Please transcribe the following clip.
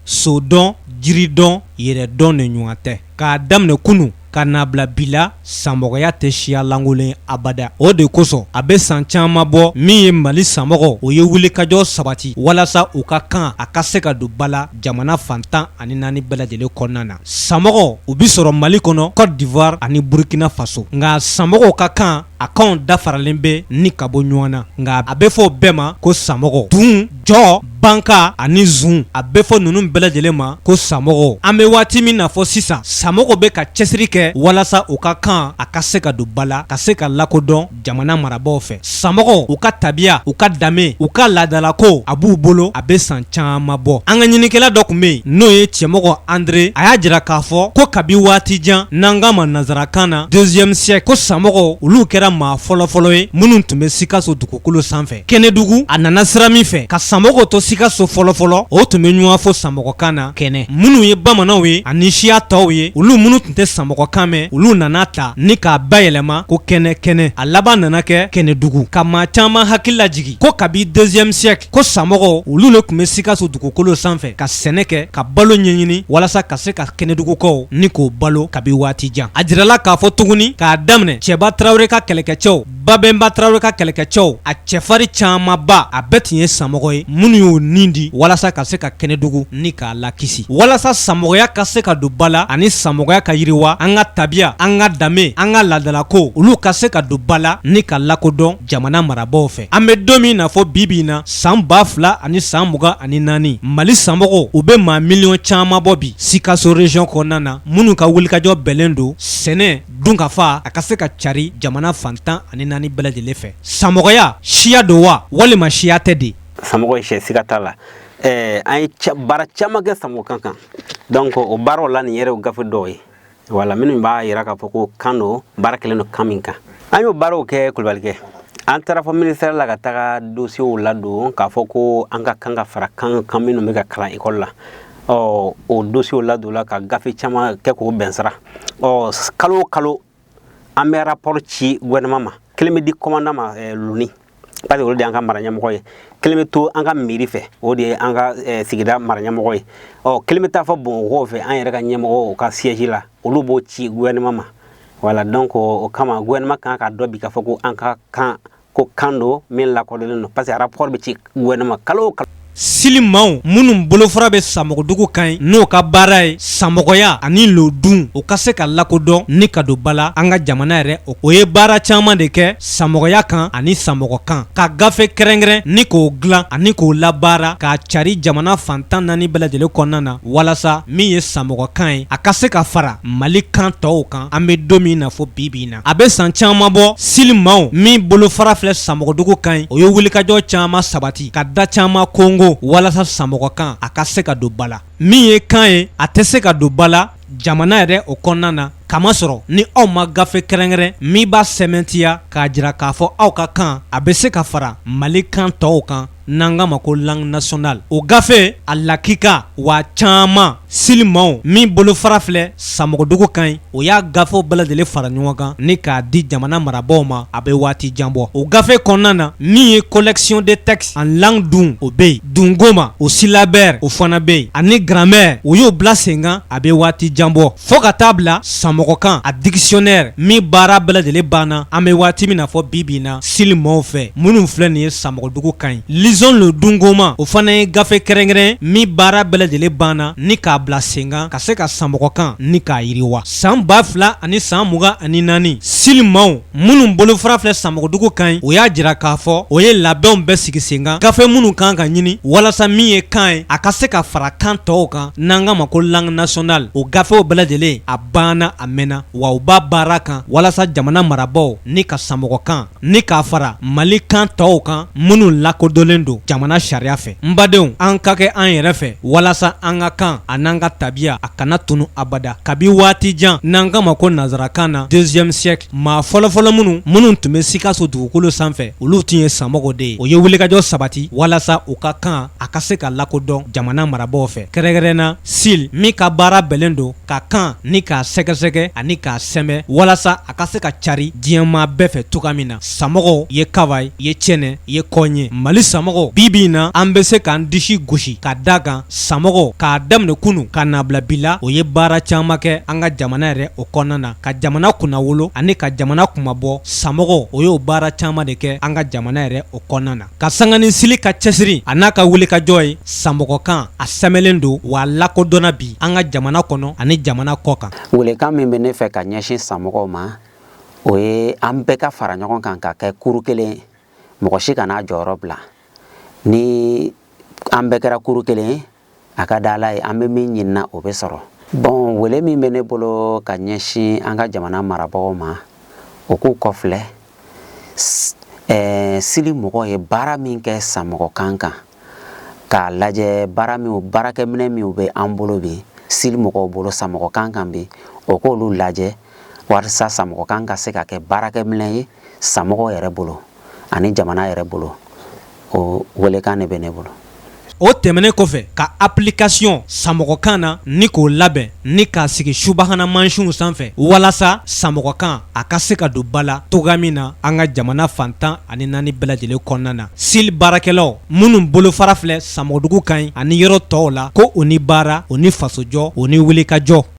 so dɔn jiri dɔn yɛrɛ dɔn de ɲɔgɔn tɛ k'a daminɛ kunun ka n'a bila bi la samɔgɔya tɛ siya lankolon abada o de kosɔn a bɛ san caman bɔ min ye mali samɔgɔw u ye wulikajɔ sabati walasa u ka kan a ka se ka don ba la jamana fan tan ani naani bɛɛ lajɛlen kɔnɔna na samɔgɔw u bɛ sɔrɔ mali kɔnɔ côte d'ivoire ani burukina faso nka samɔgɔw ka kan a kanw danfaralen bɛ ni ka bɔ ɲɔgɔn na nka a bɛ fɔ bɛɛ ma ko samɔgɔ duun jɔ banka ani zun a bɛ fɔ ninnu bɛɛ lajɛlen ma ko samɔgɔ an bɛ waati min n'a fɔ sisan samɔgɔw bɛ ka cɛsiri kɛ walasa u ka kan a ka se ka don ba la ka se ka lakodɔn jamana marabaaw fɛ samɔgɔw u ka tabiya u ka danbe u ka laadalako a b'u bolo a bɛ san caman bɔ an ka ɲininikɛla dɔ tun bɛ yen n'o ye cɛmɔgɔ andre a y'a jira k'a fɔ ko kabi waati jan n'an k'a ma nansarakan na deuxième siècle ko samɔgɔw olu kɛra maa fɔlɔfɔlɔ ye minnu tun bɛ sikaso dugukolo sanfɛ kɛnɛdugu a nana sira min fɛ ka samɔgɔw to sikaso fɔlɔfɔlɔ u tun bɛ ɲɔgɔn fo samɔgɔkan na kɛnɛ minnu ye bamananw ye ani siya tɔw ye olu minnu tun tɛ samɔgɔkan mɛn olu nan'a ta ni k'a bayɛlɛma ko kɛnɛ kɛnɛ a laban nana kɛ kɛnɛdugu ka maa caman hakili lajigi ko kabi deuxième siècle ko samɔgɔw olu le tun bɛ sikaso dugukolo sanfɛ ka sɛnɛ kɛ ka balo ɲɛɲini walasa ka se ka kɛnɛdugukaw ni k'u balo kabi waati jan a jirala k'a fɔ tuguni k'a daminɛ cɛba tarawele ka kɛlɛkɛcɛw babɛnba tarawele ka kɛlɛkɛcɛw a cɛfarin camanba a bɛɛ tun ye samɔgɔ ye minnu y'u nin di walasa ka se ka kɛnɛdugu ni k'a lakisi walasa samɔgɔya ka se ka don ba la ani samɔgɔya ka yiriwa an ka tabiya an ka danbe an ka laadalako olu ka se ka don ba la ni ka lakodɔn jamana marabaaw fɛ an bɛ don min n'a fɔ bi bi in na san ba fila ani san mugan ani naani mali samɔgɔw u bɛ maa miliyɔn caman bɔ bi sikaso région kɔnɔna na minnu ka wulikajɔ bɛnnen don sɛnɛ dunkafa a ka se ka cari jamana fan tan ani naani bɛɛ lajɛlen fɛ samɔgɔya siya don wa walima siya tɛ de samɔgɔ ye siya ye siga t'a la ɛɛ an ye baara caman kɛ samɔgɔkan kan donc o baaraw la nin yɛrɛ o gafe dɔw ye voilà minnu b'a yira k'a fɔ ko kan don baara kɛlen don kan min kan an y'o baaraw kɛ kulubalikɛ an taara fɔ ministère la ka taga dosiyew ladon k'a fɔ ko an ka kan ka fara kan kan minnu bɛ ka kalan ekɔli la ɔ o dosiyew ladonla ka gafe caman kɛ k'o bɛn sira ɔ kalo o kalo an bɛ rapport ci gouvernement ma kelen bɛ di commandant ma eh, loni parce que olu de y'an ka mara ɲɛmɔgɔ ye kelen bɛ to an ka mairie fɛ o de ye an ka eh, sigida mara ɲɛmɔgɔ ye ɔ kelen bɛ taa fɔ bamakɔkaw fɛ an yɛrɛ ka ɲɛmɔgɔw ka siège la olu b'o ci gouvernement ma voilà donc o kama gouvernement kan k'a dɔn bi k'a fɔ ko an ka kan ko kan don min lakodɔnlen don parce que rapport bɛ ci gouvernement kalo o kalo sili maaw minnu bolofara bɛ samɔgɔdugu kan ye n'o ka baara ye samɔgɔya ani lodun o ka se ka lakodɔn ni ka don ba la an ka jamana yɛrɛ o o ye baara caman de kɛ samɔgɔya kan ani samɔgɔ kan ka gafe kɛrɛnkɛrɛn ni k'o dilan ani k'o labaara k'a cari jamana fantan naani bɛɛ lajɛlen kɔnɔna na walasa min ye samɔgɔ kan ye a ka se ka fara mali kan tɔw kan an bɛ don min na fɔ bi bi in na A bɛ san caman bɔ sili maaw min bolofara filɛ samɔgɔdugu kan yen o ye wulikajɔ caman sabati ka da caman konkon walasa samɔgɔkan a ka se ka don ba la min ye kan ye a tɛ se ka don ba la jamana yɛrɛ o kɔnɔna na k'a masɔrɔ ni aw ma gafe kɛrɛnkɛrɛn min b'a sɛmɛntiya k'a jira k'a fɔ aw ka kan a bɛ se ka fara mali kan tɔw kan n'an k'a ma ko langue nationale o gafe a lakika waa caman sili maaw min bolofara filɛ Samɔgɔdugu kan yen o y'a gafew bɛɛ lajɛlen fara ɲɔgɔn kan ni k'a di jamana marabaaw ma a bɛ waati jan bɔ o gafe kɔnɔna na min ye collection des textes en langue dun o bɛ yen dungoma o syllabaire o fana bɛ yen ani grammaire o y'o bila senkan a bɛ waati jan bɔ. Fo ka t'a bila samɔgɔkan a dictionnaire min baara bɛɛ lajɛlen banna an bɛ waati min na fɔ bi bi in na sili maaw fɛ minnu filɛ nin ye samɔgɔdugu kan yen lisons le dungoma o fana ye gafe kɛrɛnkɛrɛn min baara bɛɛ lajɛlen banna ni k'a bila senkan ka se ka samɔgɔkan ni k'a yiriwa san ba fila ani san mugan ani naani sili minnu bolofara filɛ samɔgɔdugu kan yen o y'a jira k'a fɔ o ye labɛnw bɛɛ sigi sen kan gafe minnu kan ka ɲini walasa min ye kan ye a ka se ka fara kan tɔw kan n'an k'a ma ko langue nationale o gafew bɛɛ lajɛlen a banna a mɛnna wa u b'a baara kan walasa jamana marabagaw ni ka samɔgɔ kan ni k'a fara mali kan tɔw kan minnu lakodɔnlen don jamana sariya fɛ n badenw an ka kɛ an yɛrɛ fɛ walasa an ka kan a n'an ka tabiya a kana tunu abada kabi waati jan n'an k'a ma ko nansarakan na deuxième siècle maa fɔlɔfɔlɔ minnu minnu tun bɛ sikaso dugukolo sanfɛ olu tun ye samɔgɔw de ye o ye wulikajɔ sabati walasa u ka kan a ka se ka lakodɔn jamana marabagaw fɛ kɛrɛnkɛrɛn na sili min ka baara bɛnnen don ka kan ni k'a sɛgɛsɛgɛ ani k'a sɛmɛ walasa a ka se ka cari diɲɛmaa bɛɛ fɛ cogoya min na samɔgɔw ye kaba ye ye cɛnɛ ye kɔn ye mali samɔgɔw bi bi in na an bɛ se k'an disi gosi ka da kan samɔgɔw k'a daminɛ kunu ka n'a bila bi la o ye baara caman kɛ an ka jamana yɛrɛ o kɔnɔna na ka jamana kunnawolo ani ka jamana kunmabɔ samɔgɔw o y'o baara caman de kɛ an ka jamana yɛrɛ o kɔnɔna na ka sanga ni sili ka cɛsiri a n'a ka wulikajɔ ye samɔgɔkan a sɛmɛlen don wa a lakodɔnna bi an ka jamana kɔnɔ ani jamana kɔkan welekan min bɛ ne fɛ ka ɲɛsin samɔgɔw ma o ye an bɛɛ ka fara ɲɔgɔn kan ka kɛ kuru kelen mɔgɔ si kan'a jɔyɔrɔ bila ni an bɛɛ kɛra kuru kelen ye a ka da ala ye an bɛ min ɲinina o bɛ sɔrɔ bɔn wele min bɛ ne bolo ka ɲɛsin an ka jamana marabagaw ma o k'u kɔfilɛ ɛɛ sil mɔgɔw ye baara min kɛ samɔgɔkan kan k'a lajɛ baara min baarakɛminɛ min bɛ an bolo bi sil mɔgɔw bolo samɔgɔkan kan bi o k'olu lajɛ walasa samɔgɔkan ka se ka kɛ baarakɛminɛ ye samɔgɔ yɛrɛ bolo ani jamana yɛrɛ bolo o welekan de bɛ ne bolo o tɛmɛnen kɔfɛ ka application samɔgɔkan na ni k'o labɛn ni k'a sigi subahana mansinw sanfɛ walasa samɔgɔkan a ka se ka don ba la cogoya min na an ka jamana fan tan ani naani bɛɛ lajɛlen kɔnɔna na sil baarakɛlaw minnu bolofara filɛ samɔgɔdugu kan ɲi ani yɔrɔ tɔw la ko u ni baara u ni fasojɔ u ni wulikajɔ